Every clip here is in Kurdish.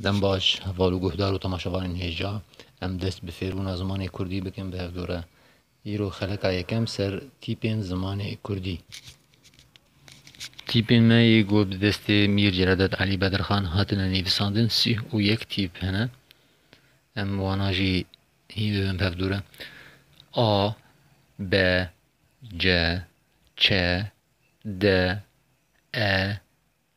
Dem baş heval û guhdar û temaşevanên hêja. Em dest bi fêrbûna zimanê kurdî bikin bi hev dûre. Îro xeleka yekem ser tîpên zimanê kurdî. Tîpên me yê ku bi destê Mîr Celadet Elî Bedirxan hatine nivîsandin sîh û yek tîp hene. Em wana jî hîn bibin bi hev dûre. A, B, C, Ç, D, E,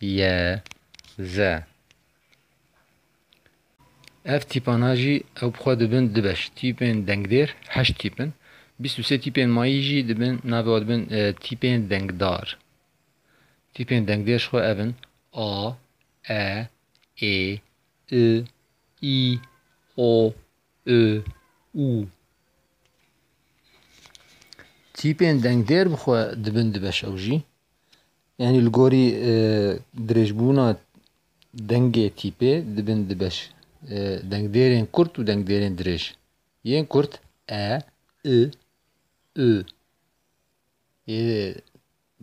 ye ze. Ev tîpana jî ew bi xwe dibin du beş, tîpên dengdêr heşt tîp in, bîst û sê tîpên mayî jî dibin navê wan dibin tîpên dengdar. Tîpên dengdêr ji xwe ev in, a, e, ê, i, î, o, û, û. Tîpên dengdêr bi xwe dibin du beş ew jî, Yanî li gorî dirêjbûna dengê tîpê dibin di beş dengdêrên kurt û dengdêrên dirêj. Yên kurt e, i, ü. Yê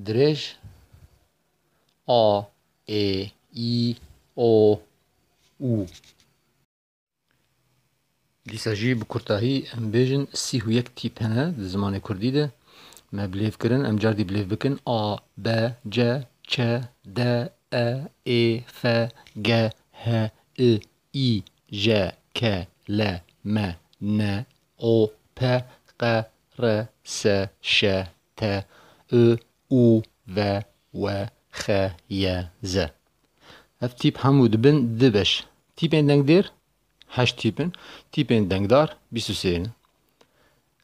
dirêj a, ê, î, o, û. Dîsa jî bi kurtahî em bêjin sîh û yek tîp hene di zimanê kurdî de me bi lêv kirin em car dî bi lêv bikin a, b, c, ç, d, e, ê, f, g, h, i, î, j, k, l, m, n, o, p, q, r, s, ş, t, û, û ve we xe ye ze. Ev tîp hemû dibin di beş. Tîpên dengdêr heşt tîp in, tîpên dengdar bîst û sê ne.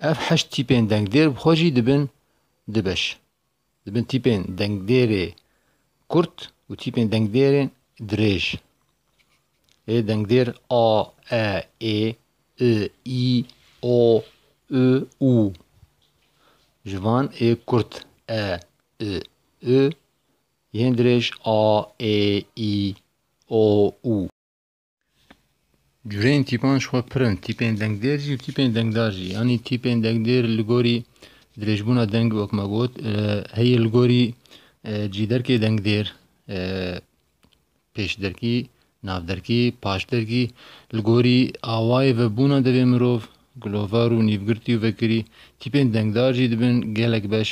Ev heşt tîpên dengdêr bi xwe jî dibin di beş. Dibin tîpên dengdêrê kurt û tîpên dengdêrên dirêj. Ê dengdêr a, e, ê, i, î, o, ü, û ji van ê kurt, e, i, ü, yên dirêj a, ê, î, o, û. Cureyên tîpan ji xwe pir in, tîpên dengdêr jî û tîpên dengdar jî. Yanî tîpên dengdêr li gorî dirêjbûna deng wek me got heye li gorî cî derkê dengdêr. pêşderkî, navderkî, paşderkî, li gorî awayê ve bûna devê mirov, gilovar û nîvgirtî û vekirî, tîpên dengdar jî dibin gelek beş.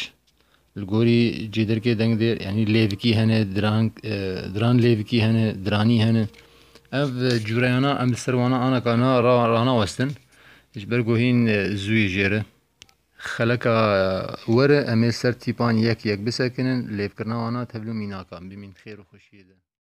Li gorî cêderkê dengdêr yanî lêvikî hene, diran, diran lêvikî hene, diranî hene. Ev cûreyana em li ser wan ana ka na ranawestin ji ber ku hîn zû yê jêr e. Xeleka were em ê ser tîpan yek yek bisekinin, lêvkirina wan a tevlû mînakan bimîn xêr û xweşiyê de.